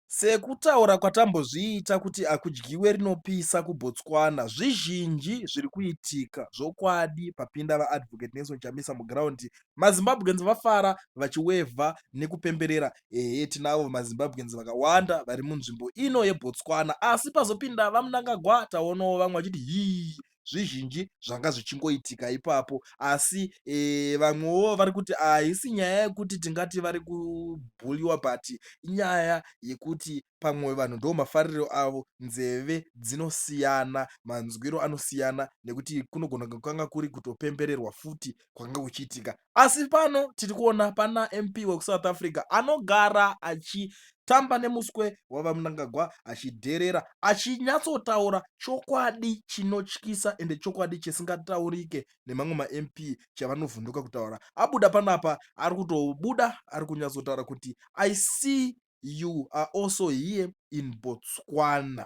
Sekutaura kwatambozviita kuti akudyiwe rinopisa kuBotswana, zvizhinji zviri kuitika zvokwadi papinda VaAdvocate Nelson Chamisa muground, maZimbabweans vafara vachiwevha nekupemberera ehe tinavo maZimbabweans vakawanda vari munzvimbo ino yeBotswana asi pazopinda VaMnangagwa taonawo vamwe vachiti hii zvizhinji zvanga zvichingoitika ipapo asi e, vamwewo vari kuti haisi nyaya yekuti tingati vari kubhuliwa but inyaya yekuti pamwe vanhu ndo mafariro avo nzeve dzinosiyana manzwiro anosiyana nekuti kunogona kukanga kuri kutopembererwa futi kwanga kuchiitika asi pano tiri kuona pana mp wekusouth africa anogara achitamba nemuswe wavamnangagwa achidherera achinyatsotaura chokwadi chinotyisa ende chokwadi chisingataurike nemamwe mamp chavanovhunduka kutaura abuda panapa ari kutobuda ari kunyatsotaura kuti i see you are also here in botswana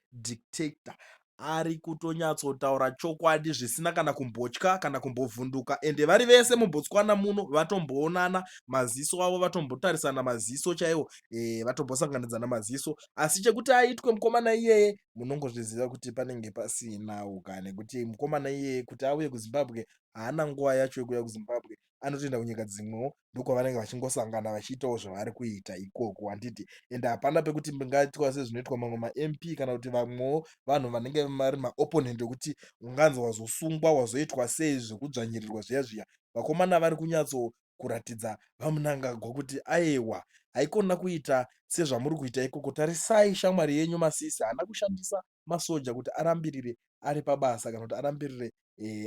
dictator ari kutonyatsotaura chokwadi zvisina kana kumbotya kana kumbovhunduka ende vari vese mubotswana muno vatomboonana maziso avo vatombotarisana maziso chaiwo e, vatombosanganidzana maziso asi chekuti aitwe mukomana iyeye munongozviziva kuti panenge pasina uka nekuti mukomana iyeye kuti auye kuzimbabwe haana nguva yacho yekuuya kuzimbabwe anotoenda kunyika dzimwewo ndokwavanenge vachingosangana vachiitawo zvavari kuita ikoko handiti ende hapana pekuti ndingaitwa sezvinoitwa mamwe mamp kana kuti vamwewo vanhu vanenge vari maopponent ekuti unganzi wazosungwa wazoitwa sei zvekudzvanyirirwa zviya zviya vakomana vari kunyatso kuratidza vamunangagwa kuti aewa haikona kuita sezvamuri kuita ikoko tarisai shamwari yenyu masisi haana kushandisa masoja kuti arambirire ari pabasa kana kuti arambirire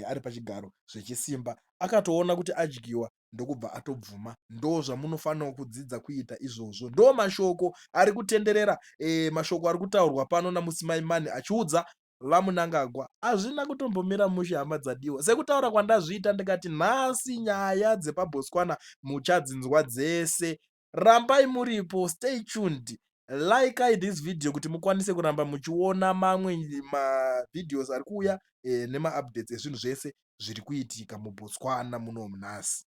ari pachigaro zvechisimba akatoona kuti adyiwa ndokubva atobvuma ndo zvamunofanira kudzidza kuita izvozvo ndo mashoko ari kutenderera e, mashoko ari kutaurwa pano namusimaimani achiudza vamunangagwa hazvina kutombomira mushe hama dzadiwa sekutaura kwandazviita ndikati nhasi nyaya dzepabhotswana muchadzinzwa dzese rambai muripo stay tuned likai this video kuti mukwanise kuramba muchiona mamwe mavideos ari kuuya eh, nemaupdates ezvinhu zvese zviri kuitika mubotswana muno munhasi